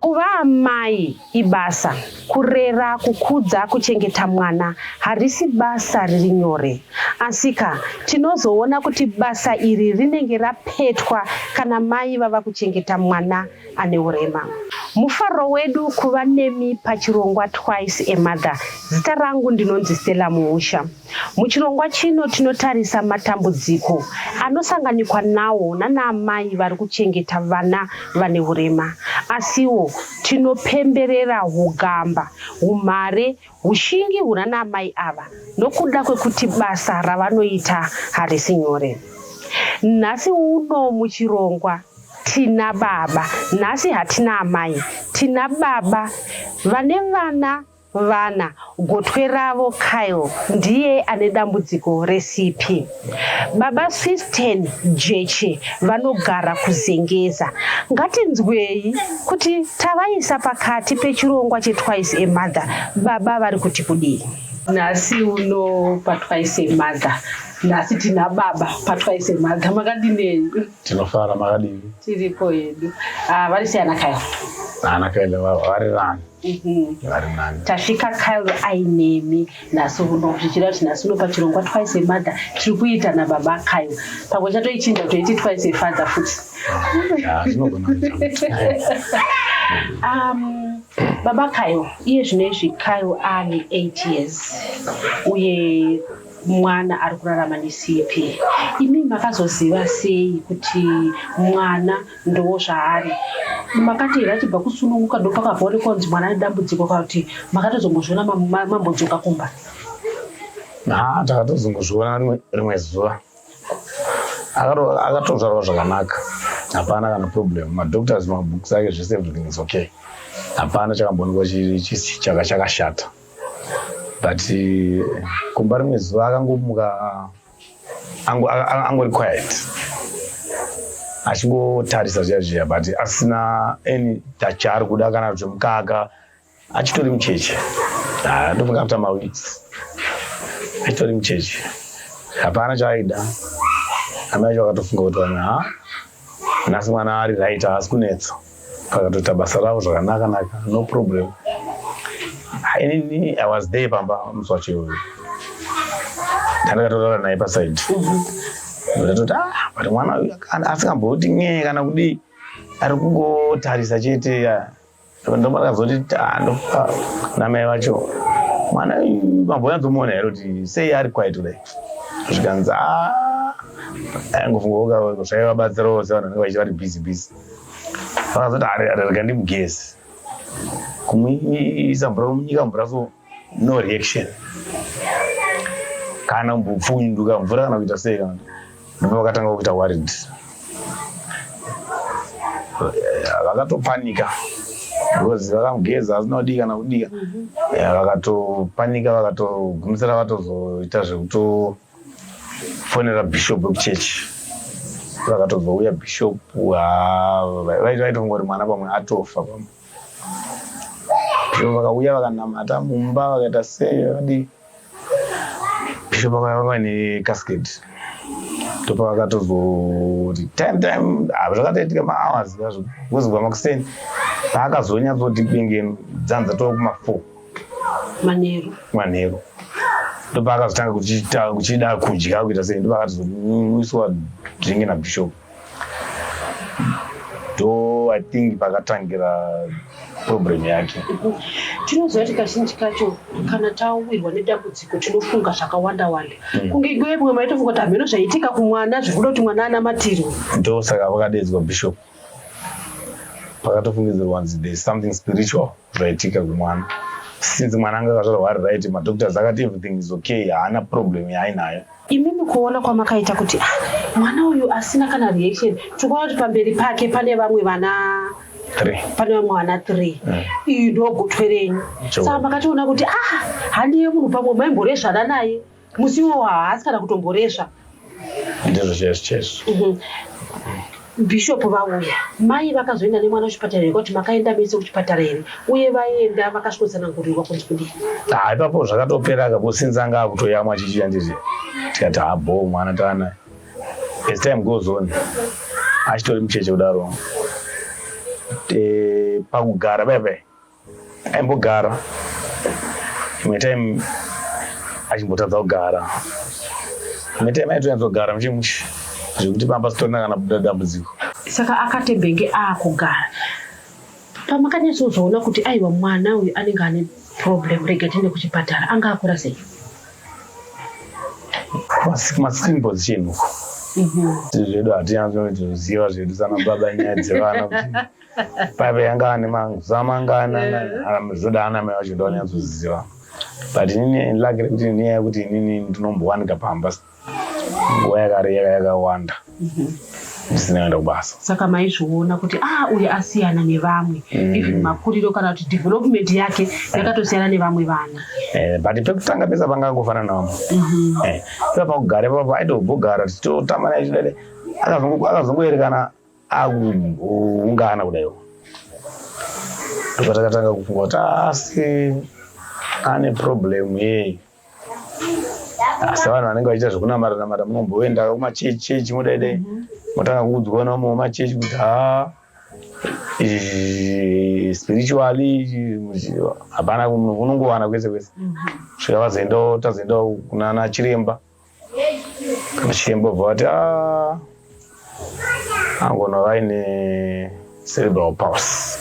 Kuva amai ibasa. Kurera, kukudza, kuchengeta mwana harisi basa riri nyore. Asika, tinozoona kuti basa iri rinenge rapetwa kana mai vava kuchengeta mwana ane urema. Mufaro wedu kuva nemi pachirongwa Twice a Mother. Zita rangu ndinonzi Stella Muusha. Muchirongwa chino tinotarisa matambudziko anosanganikwa nawo nanaamai vari kuchengeta vana vane urema. Asiwo tinopemberera hugamba, humhare, hushingi hunanaamai ava nokuda kwekuti basa ravanoita harisi nyore. Nhasi uno muchirongwa tina baba, nhasi hatina amai, tina baba vane vana Vana, gotwe ravo Kyle ndiye ane dambudziko reCP. Baba Swisten Jeche vanogara kuZengeza. Ngatinzwei kuti tavaisa pakati pechirongwa cheTwice a Mother, baba vari kuti kudii? Nhasi uno paTwice a Mother nhasi tina baba patwice mother makadinei tinofara makadini tiripo yedu ah, vari sei anakayo anakaile vari rani Mhm. vari mani tasvika kyle ainemi nhasi uno zvichira kuti nhasi uno pachirongwa twice a mother tiri kuita nababa kyle pamwe chatoichinja kutoiti twice a father futi Ah, zvinogona kuita. um, baba kyle iye zvino izvi kyle ane 8 years uye mwana ari kurarama necp imi makazoziva sei kuti mwana Ndozvaari. Makati here achibva kusununguka ndopakabva one konzi mwana ane dambudziko kuti makatozongozviona mambodzoka kumba? Haa takatozongozviona rimwe zuva. Akatozvarwa zvakanaka. Hapana kana problem. Madoctors, mabooks ake zvese everything is okay. Hapana chakamboonekwa chaka chakashata. But kumba rimwe zuva akangomuka angori quiet achingotarisa zviya zviya but asina any touch ari kuda kana kuti mukaka achitori mucheche ah, ndofunga after maweeks achitori mucheche hapana chaaida amai vakatofunga kuti vana Nhasi mwana ari right haasi kunetsa pakatoita basa ravo zvakanaka naka no problem. Inini I was there pamba musi wacho iwoyo. Ndakatotaura naye paside. Ndatoti ah but mwana uyu asingamboti nyee kana kudii ari kungotarisa chete. ndomakazondi tando ah, namai vacho mwana mambonyanzomuona here kuti sei ari kwaito dai zvikanzi ah, aingofunga zvaivabatsirawo sevanhu vanenge vachiva vari busy busy vakazoti arega ndimugezi kumuisa mvura munyika mvura so no reaction kana mbupfunduka mvura kana kuita sei kana ndipo vakatanga kuita worried vakatopanika because vakamugeza asina kudii kana kudika mhm. vakatopanika vakatogumisira vatozoita zvekutofonera bishop wekuchechi vakatozouya bishop vaitongori mwana pamwe atofa pamwe bishop vakauya vakanamata mumba vakaita sei vakadii bishop vakauya vava necasket topa vakatozoti time time ah, zvakatoitika mahours azvo kuzibwa makuseni paakazonyatsoti kunge dzanza tova kumafour manheru manheru ndopaakazotanga kuchida kudya kuita sei ndopaakatozonwiswa dringi nabishop do i think pakatangira problem yake tinoziva kuti kazhinji kacho kana tawirwa nedambudziko tinofunga zvakawanda wanda hmm. kunge igoye mumwe maitofunga kuti hameno zvaitika kumwana zvekuda kuti mwana anamatirwe ndosaka vakadedzwa bishop pakatofungidzirwa nzi there is something spiritual zvaitika kumwana since mwana anga akazvarwa ari right madoctors akati everything is okay haana problem yaainayo imimi kuona kwamakaita kuti ah, mwana uyu asina kana reaction tikuona kuti pamberi pake pane vamwe vana pane vamwe vana three mm. iyi ndogotwe renyu saka makatoona kuti ah handiye munhu pamwe maimboresvana naye Musi iwowo haasi kana kutomboresva. Ndizvo chaizvo chaizvo. Mhm. Bishop vauya, mai vakazoenda nemwana kuchipatara here kwakuti makaenda mese kuchipatara here uye vaenda vakasvikosanangurirwa kunzi kudii? Ah, ipapo zvakatopera kako since anga akutoyamwa chichiya ndizve tikati habho mwana tana as time goes on achitori mucheche kudaro Eh, pakugara bebe aimbogara imwe time achimbotadza kugara imwe time aitonyatsodzogara muchi mushe zvekuti pamba sitorina kana buda dambudziko saka akatebenge akugara pamakanyatsozoona kuti aiwa mwana uyu anenge ane problem rega tiende kuchipatara anga akura sei kumascreenbots chinhu mhm. zvedu hatinyatsoziva zvedu sana baba nyaya dzevana paive yanga ane mazama anga anamizvoda aname vacho ndonyatsoziva but inini lake rekuti nyaya yekuti inini ndinombowanika pamba nguva yakare yaka yakawanda mhm. ndisina kuenda kubasa saka maizviona kuti a ah, uyu asiyana nevamwe mm. even makuriro kana kuti development yake eh. yakatosiyana nevamwe vana eh, but pekutanga pesa panga angofanana vamwe mhm. eh, ipa pakugara ipapa aitobogara tichitotambana ichidede akazongoerekana akuungana kudaiwo zvatakatanga kufunga kuti asi ane problem yei asi vanhu vanenge vachiita zvekunamata namata munomboenda kumachechi chechi mudaidai mhm. motanga kuudzwa namwe machechi kuti haa spiritually hapana unongowana kwese kwese mhm. svika vazoendawo tazoendawo kunana chiremba Ndichimbobva vati ah, angona vaine cerebral pulse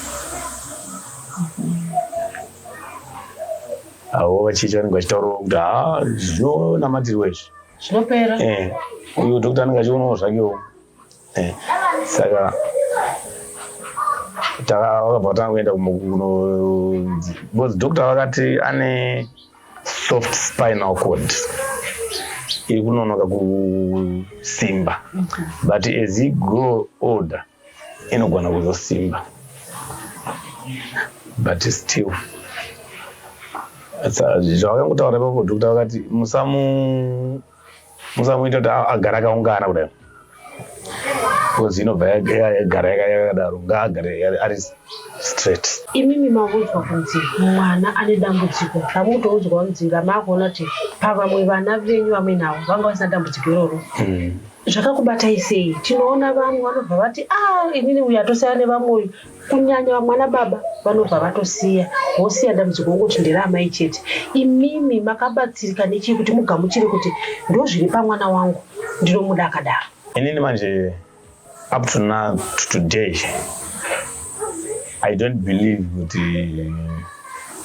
avo vachiita vanenge vachitaurawo kuti haa zvinonamatirwa izvi zvinopera eh, uyu dhokta anenge achionawo zvakewo eh, saka vakabva tanga kuenda kunokuno because dhokta vakati ane soft spinal cord iri kunonoka kusimba but as you grow older inogona kuzosimba but still zvawakangotaura ipapo dhokta vakati musamu musamuita kuti agara akaungana kudai because inobva yagara yakadaro ngaagare ari straight imimi makuudzwa kunzi mwana ane dambudziko ramutoudzwa kunzi ramakuona kuti pavamwe vana venyu vamwe navo vanga vasina dambudziko iroro hmm. zvakakubatai sei tinoona vamwe vanobva vati a ah, inini uyu atosiyana nevamwe uyu kunyanya vamwana baba vanobva vatosiya vosiya dambudziko ngokuti ndiri amai chete imimi makabatsirika nechii kuti mugamuchire kuti ndozviri pamwana wangu ndinomuda akadaro inini manje up to now to today i don't believe kuti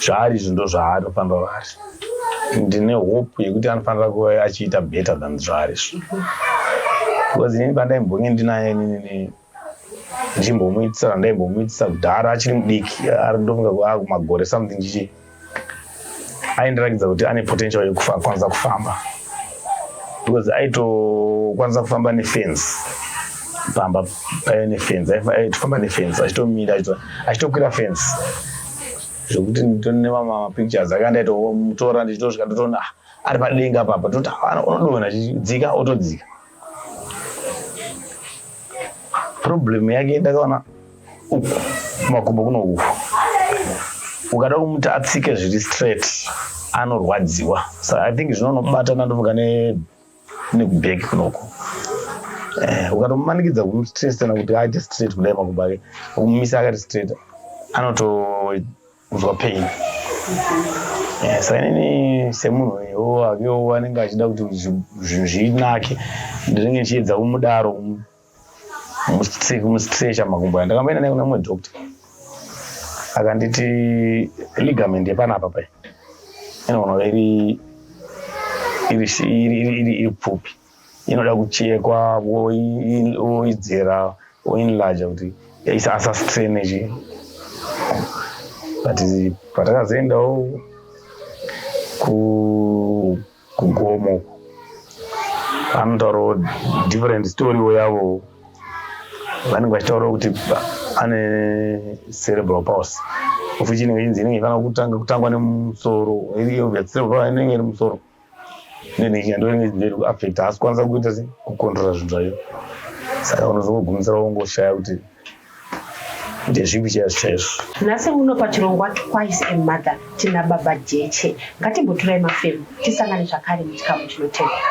zvaari izvi ndo zvaari pamba vari ndine hope yekuti anofanira kuva achiita better than zvaari izvi because inini pandaimbonge ndinaye inini ndichimbomuitisa randaibomuitisa kudhara achiri mudiki arindofunga kumagore ah, something chichi aindirakidza kuti ane potential yekukwanisa kufamba because aitokwanisa kufamba nefence pamba paive nefence aitofamba nefence achitomira achitokwira fence zvekuti nemamapictures aka ndaitomutora ndichitosvika ndotoona ah, ari padenga papa toti ah, unodona chidzika otodzika problem yake ndakaona uku kumakumbo kuno uku ukada kumuti atsike zviri straight anorwadziwa so i think zvinonobata nandofunga nekubheki kunoko eh, ukatomumanikidza kumuti straight kana kuti aite straight kudai makumbo ake ukumumisa akati straight anoto kunzwa pain eh, saka inini semunhu uyo akewo anenge achida kuti zvinhu zvinake ndinenge ndichiedza kumudaro kumustrecha makumbo aya ndakamboenda naye kuna mumwe doctor akanditi ligament yepanapa pai inoona iri iri pfupi inoda kuchekwa woidzera woinlarge kuti asastrene chi but patakazoendawo kugomo anotaurawo different storywo yavo vanenge vachitaurawo kuti ane cerebral pause ofichi inenge inzi inenge ifanira kutanga kutangwa nemusoro inenge iri musoro then ikandonezeri kuaffect haasi kwanisa kuita se kucontrola zvinhu zvayo saka unozongogumisira wongoshaya kuti ndezvipi chaizvo chaizvo nhasi uno pachirongwa twice a mother tina baba jeche ngatimboturai mafemo tisangane zvakare muchikamu chinotevera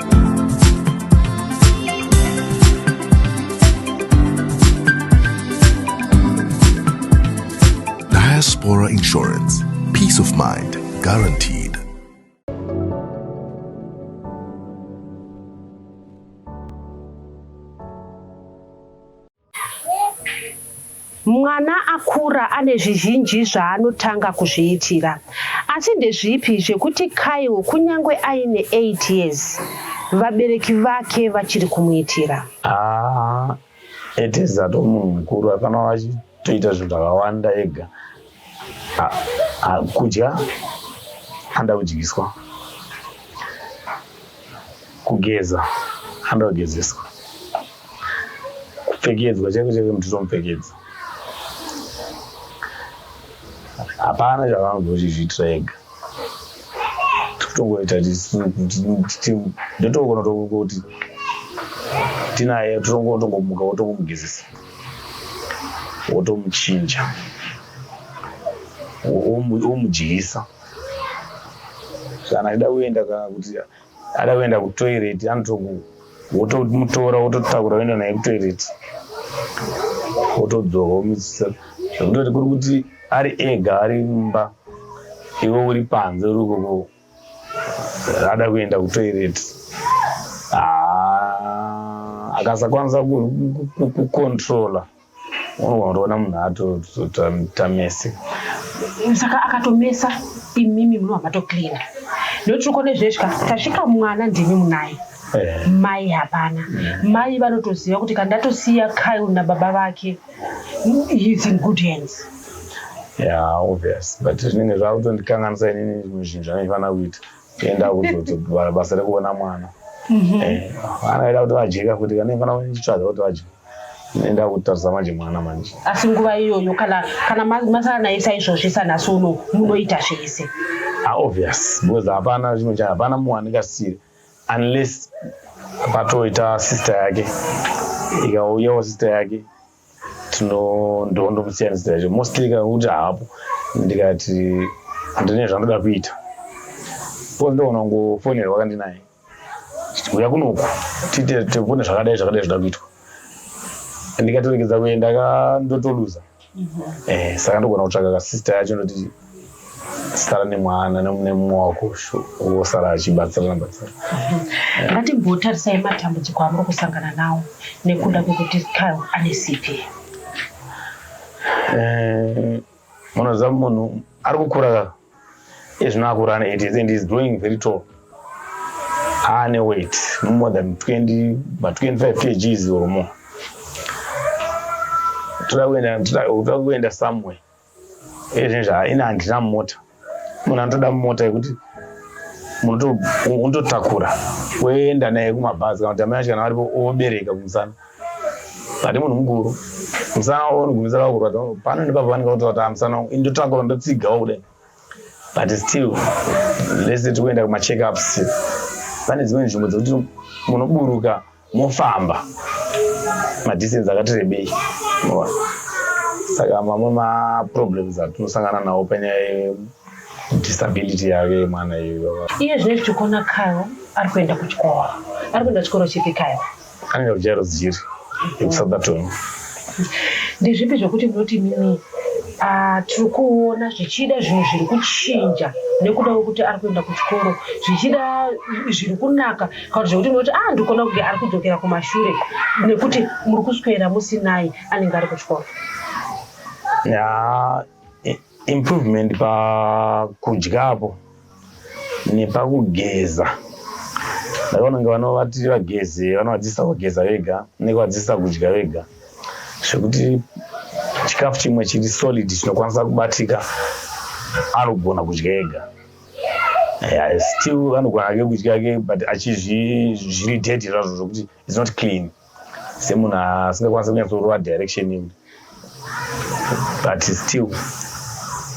Diaspora Insurance. Peace of mind guaranteed. Mwana akura ane zvizhinji zvaanotanga kuzviitira. Asi ndezvipi zvekuti Kyle kunyange aine 8 years vabereki vake vachiri kumuitira? Ah, it is ato munhu mukuru afanira achitoita zvinhu zvakawanda ega Ah, ah, kudya anoda kudyiswa kugeza anoda kugezeswa kupfekedzwa chaiko chaiko mnhu titomupfekedza hapana chavanozozvizviitira ega tikutongoita ndotokonotokuti tinaye totongomuka wotongomugezesa wotomuchinja womudyisa kana achida kuenda kana kuti ada kuenda kutoilet anotoku wotomutora wototakura woenda naye kutoilet wotodzoka womuisisa zvekutoti kuri kuti ari ega ari mumba iwe uri panze uri koko ada kuenda kutoilet ah, akasakwanisa kucontrola unoona munhu atotamese saka akatomesa imimi munhu wamatocleana nekuti tiri kone zvesvika tasvika mwana ndimi munaye Eh. mai hapana mai vanotoziva kuti kandatosiya kyle nababa vake he's in good hands Yeah, obvious. But zvinenge zvakutondikanganisa inini zvimwe zvinhu zvandifanira kuita. Kuenda kuzodzobara basa rekuona mwana. Mhm. Eh, vana vaida kuti vadyeka kuti kana ifana kuchitsvaga kuti vadye. Enda kutarisa manje mwana manje. asi nguva iyoyo kana kana ma- masara naye saizvozvi sanhasi uno munoita zvese Ah, obvious because hapana chimwe cha hapana munhu andingasire unless patoita sister yake ikauyawo sister yake tinondomusiyanisa izvo mostly kakuti haapo ndikati ndine zvandoda kuita bcause ndoona kungofonerwa kandinaye uya kunoku tiite tibone zvakadai zvakadai zvoda kuitwa ndikatoregedza kuenda ka ndotoluza mhm. eh, saka ndogona kutsvaka kasista yacho ndoti sara nemwana nemumwe wako wosara achibatsirana batsira ngatimbotarisai matambudziko amuri kusangana nawo nekuda kwekuti kyle ane cp eh, munoziva munhu ari kukura kaka ezvino akura ane 80 and is growing very tall aane weight no more than 20 ma 25 kgs or more toda kuenda somewhere izvezvi haina handina mota munhu anotoda mota yekuti unototakura woenda naye kumabhazi kana kuti amai acho kana varipo obereka kumusana hati munhu mukuru musana wavo unogumisa lava kurwadza pano nepapa vanenge vatoata ah, musana wangu indotakura ndotsigawo kudai but still lese tiri kuenda kumacheckups pane dzimwe nzvimbo dzekuti munoburuka mofamba madistance akati rebei saka mamwe maproblems atinosangana nawo panyaya disability yake yemwana iyoyo iye zvine zvichikona kayo ari kuenda kuchikoro ari kuenda chikoro chipi kayo anoenda kujairo dziri ekusoutherton ndezvipi zvekuti munoti mimi Ah, tiri kuona zvichida zvinhu zviri kuchinja nekuda kwekuti ari kuenda kuchikoro zvichida zviri kunaka kana zvekuti unoti ah ndikuona kunge ari kudzokera kumashure nekuti muri kuswera musinai anenge ari kuchikoro ya improvement pakudyapo nepakugeza ndakaona kunge vanovatiri vagezi vanovadzisa kugeza vega nekuvadzisa kudya vega zvekuti chikafu chimwe chiri solid chinokwanisa kubatika anogona kudya ega yeah, still anogona ake kudya ke but achizviri dead zvazvo zvokuti its not clean semunhu asingakwanisa kunyatsorova direction in but still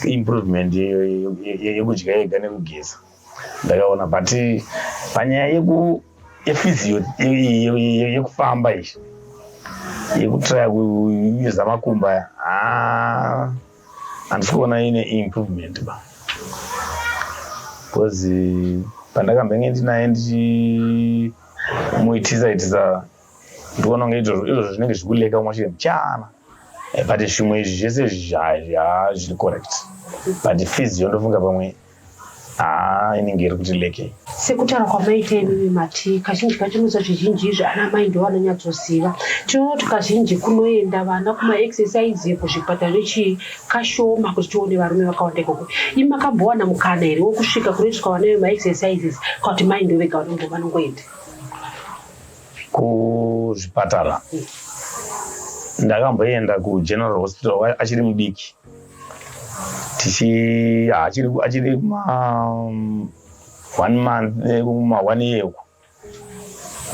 improvement yekudya yega nekugeza ndakaona but panyaya yefizio yekufamba izvi yekutraya kuuza makumba haa handisi kuona ine improvement ba because pandakambenge ndinaye ndichimuitisa itisa ndikuona kunge izvozvo izvozvo zvinenge zvikuleka umwe chete mchana eh, but zvimwe izvi zvese zviri correct but fees yondofunga pamwe haa inenge iri kuti leke sekutaura kwamaita imimi mati kazhinji kacho musa zvizhinji izvi ana mai ndo vanonyatsoziva tinoona kuti kazhinji kunoenda vana kumaexercise kuzvipatara nechii kashoma kuti tione varume vakawanda ikoko i makambowana mukana here wokusvika kunoitiswa vana vemaexercises ka kuti mai ndo vega vanongoenda kuzvipatara ndakamboenda kugeneral hospital achiri mudiki tichi achiri achiri kuma um, one month eh, kuma one year uko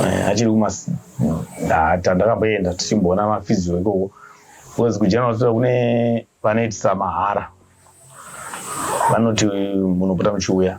eh, achiri kuma tandakamboenda tichimboona mafizio ikoko because kugeneral hospital kune vanoitisa mahara vanoti munopota muchiuya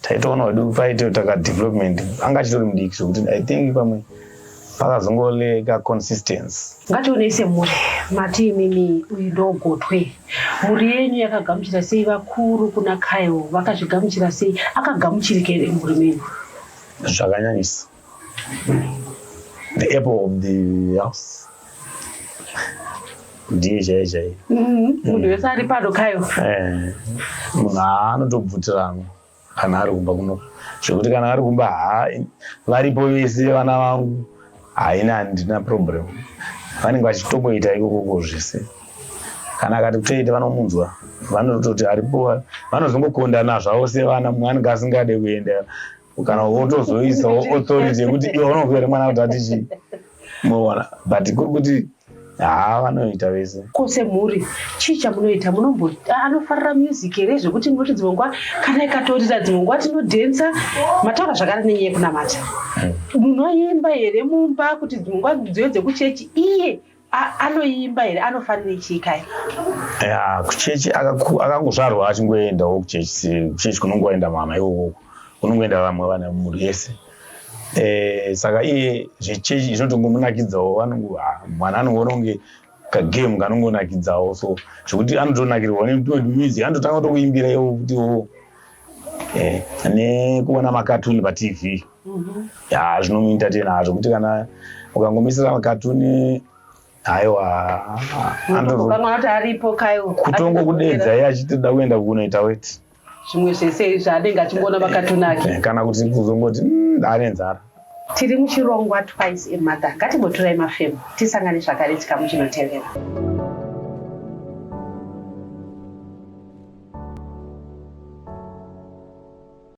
taitoona kuti paite taka development anga achitori mudiki zvekuti i think pamwe pakazongoleka consistence ngatione semhuri mati imimi uyu ndogotwe mhuri yenyu yakagamuchira sei vakuru kuna kyle vakazvigamuchira sei akagamuchirike here mhuri menyu zvakanyanyisa the apple of the house ndiye chaiye chaiye mm-hmm. munhu mm. wese ari pano kayo eh, munhu anotobvutirana kana ari kumba kuno zvekuti kana ari kumba ha varipo vese vana vangu haina handina problem vanenge vachitomboita ikokoko zvese kana akati kutoita vanomunzwa vanototi aripo vanozongokondana zvavo sevana mwanhu ngaasingade kuenda kana wotozoisawo authority yekuti iwe unonzwa here mwana kuti ati chii moona but kuri kuti haa vanoita vese ko semhuri chii chamunoita munombo anofarira music here zvekuti munoti dzimwe nguva kana ikatorira dzimwe nguva tinodhensa mataura zvakare nenyaya yekunamata hmm. munoimba here mumba kuti dzimwe nguva dziyo dzekuchechi iye anoimba here anofarira chii kai ya kuchechi akangozvarwa achingoendawo kuchechi kuchechi kunongoenda mama iwowo kunongoenda vamwe vana mhuri yese eh, saka iye zvechechi zvinotongomunakidzawo vanongo ah, mwana anongononge kagame kanongonakidzawo so zvekuti anotonakirwa nemuzi anototanga kutokuimbira iwo kuti wo eh, nekuona makatuni patv yaa zvinomuita tena hazvo kuti kana ukangomisira makatuni haiwa anoti aripo kayo kutongo kudedza iye achitoda kuenda kunoita weti zvimwe zvese izvi anenge achingoona makatuni ake eh, kana kuti kuzongoti mm, ane nzara tiri muchirongwa twice emother ngatimboturai mafemo tisangane zvakare chikamu chinotevera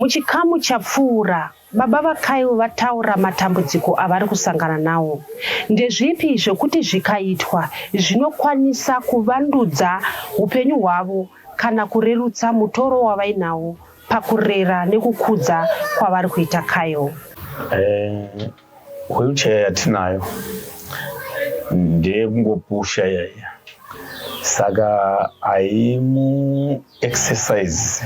Muchikamu chapfuura, baba vaKyle vataura matambudziko avari kusangana nawo. Ndezvipi zvokuti zvikaitwa zvinokwanisa kuvandudza upenyu hwavo kana kurerutsa mutoro wavainawo pakurera nekukudza kwavari kuita Kyle? Eh, Wheelchair yatinayo ndeyekungopusha yaiya saka haimu exercise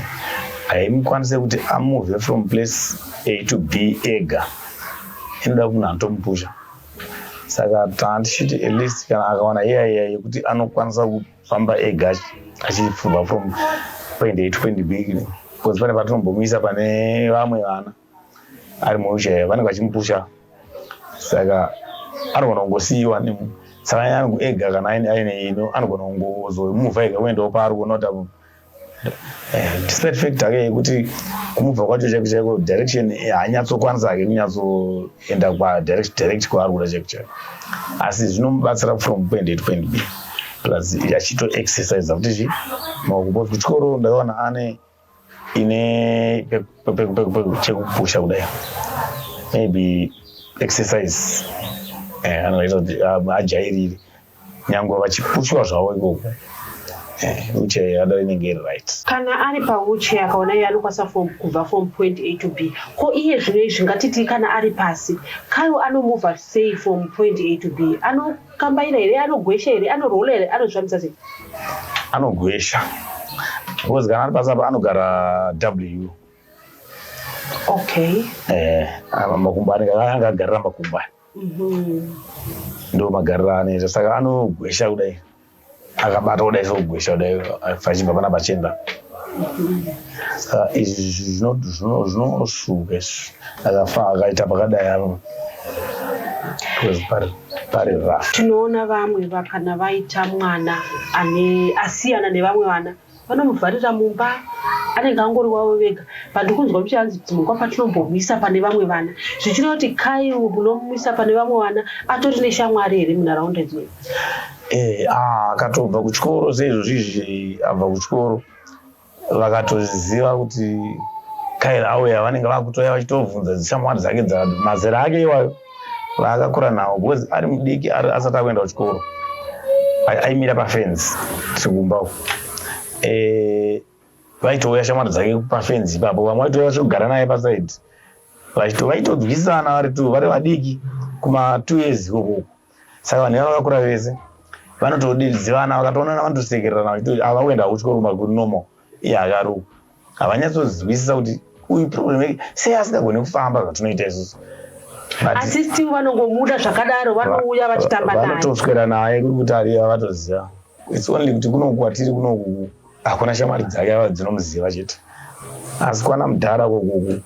haimukwanise kuti amove from place a to b ega inoda kuti munhu anotomupusha saka tandichiti at least kana akawana iyaiya yekuti anokwanisa kufamba ega achifurwa from point a to point b because pane patinombomisa pane vamwe vana ari muwheelchair vanenge vachimupusha saka anogona kungosiyiwa nemu saka angu ega kana aine aine ino anogona kungozomuvha ega kuendawo paari kuona kuti apo eh, despite fact ake yekuti kumubva kwacho chaiko chaiko direction eh, haanyatsokwanisa ake kunyatsoenda kwadirect direct kwaari kuda chaiko chaiko asi zvinomubatsira from point a to point b plus achito exercise futi chi maoko bcause kuchikoro ndakaona ane ine chekupusha kudai maybe exercise eh, anoita kuti um, ajairire nyange vachipushwa zvavo ikoko eh, uche yadava inenge iri right kana ari pauche akaona iye anokwanisa kubva from point a to b ko iye zvino izvi ngatitii kana ari pasi kayo anomuvha sei from point a to b ano Kambaira here anogwesha here anorola here anozvambisa sei? Anogwesha because kana ari pasi apa anogara W. Okay. Eh, apa makumbo anenge akagarira makumbo aya. Mhm. Ndomagariro aanoita saka anogwesha kudai. akabata kudai sekugwesha kudai vachibva pana bachenda saka izvi zvinosvuka izvi akafa akaita pakadai avo pari rough tinoona vamwe vakana vaita mwana ane asiyana nevamwe vana vanomuvharira mumba anenge angori wavo vega but kunzwa muchihanzi kuti mukwa patinombomisa pane vamwe vana zvichireva kuti kai munomumisa pane vamwe vana atori neshamwari here munharaunda idzoi eh, ah, akatobva kuchikoro seizvozvizvi abva kuchikoro vakatoziva kuti kaira auya vanenge vakutoya vachitobvunza dzishamwari dzake dzamazera ake iwayo vaakakura nawo because ari mudiki asati akuenda kuchikoro aimira pafenzi tikumba uko eh, vaitouya shamwari dzake pafenzi ipapo vamwe vaitouya vachigara naye pasaidi vaitodzwisana vari tu vari vadiki kuma two years ikokoko saka vanhu ivava vakakura vese vanotodiridzivana vakatoonana vanotosekererana vachiti ava kuenda kuchikoro maguru normal iye akaruka havanyatsozinzwisisa kuti uyu problem yake sei asingagone kufamba zvatinoita isusu asi still vanongomuda zvakadaro vanouya vachitamba naye vanotoswera naye kuri kuti ariya vatoziva its only kuti kunoku kwatiri kunoku hakuna shamwari dzake ava dzinomuziva chete asi kwana mudhara kokuku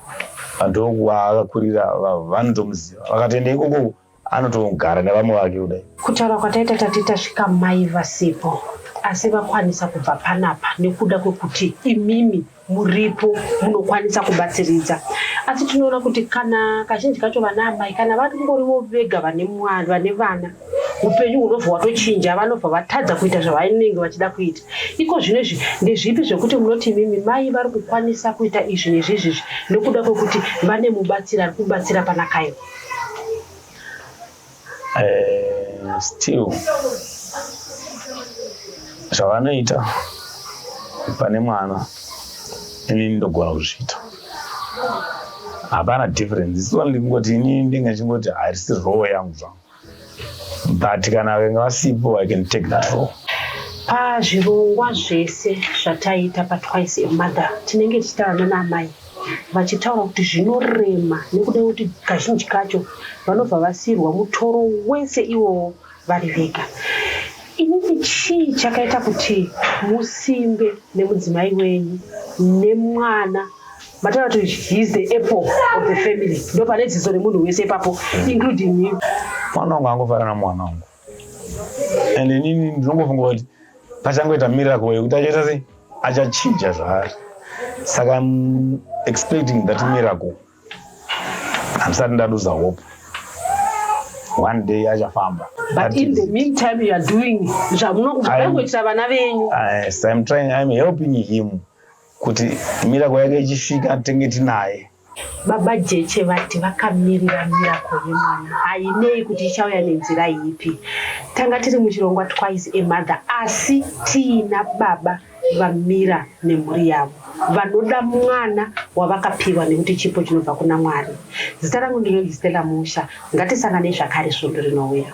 vandokuva akakurira vanotomuziva vakatoenda ikokoku Anotogara nevamwe vake kudai. Kutaura kwataita tati tasvika mai vasipo asi vakwanisa kubva panapa nekuda kwekuti imimi muripo munokwanisa kubatsiridza asi tinoona kuti kana kazhinji kacho vana amai kana vari kungorivo vega vane mwana vane vana upenyu hunobva hwatochinja vanobva vatadza kuita zvavanenge vachida kuita iko zvino izvi ndezvipi zvekuti munoti imimi mai vari kukwanisa kuita izvi nezvizvizvi nekuda kwekuti vane mubatsiri ari kubatsira panakaiwa eh, still zvavanoita pane mwana ini ndogona kuzviita hapana difference isivandingoti ini ndinge chingoti harisi roho yangu zvangu but kana venga vasipo i can take that role pazvirongwa zvese zvataita patwice emother tinenge tichitaurana naamai vachitaura kuti zvinorema nekuda kuti kazhinji kacho vanobva vasirwa mutoro wese iwowo vari vega inini chii chakaita kuti musimbe nemudzimai wenyu nemwana mataura kuti he is the apple of the family ndo pane dzidzo remunhu wese ipapo including him mwana wangu angofana namwana wangu and inini ndinongofunga kuti pachangoita miracle yekuti achaita sei achachinja zvaari saka im expecting that miracle handisati ndaduza hope one day achafamba but in the meantime you are doing zvamunokuita vana venyu yes i'm trying i'm helping him kuti mirako yake ichisvika tenge tinaye baba jeche vati vakamirira mirako yemwana hainei kuti ichauya nenzira ipi tanga tiri muchirongwa twice emother asi tiina baba vamira nemhuri yavo vanoda mwana wavakapiwa nekuti chipo chinobva kuna mwari zita rangu ndinoistela musha ngatisangane zvakare svondo rinouya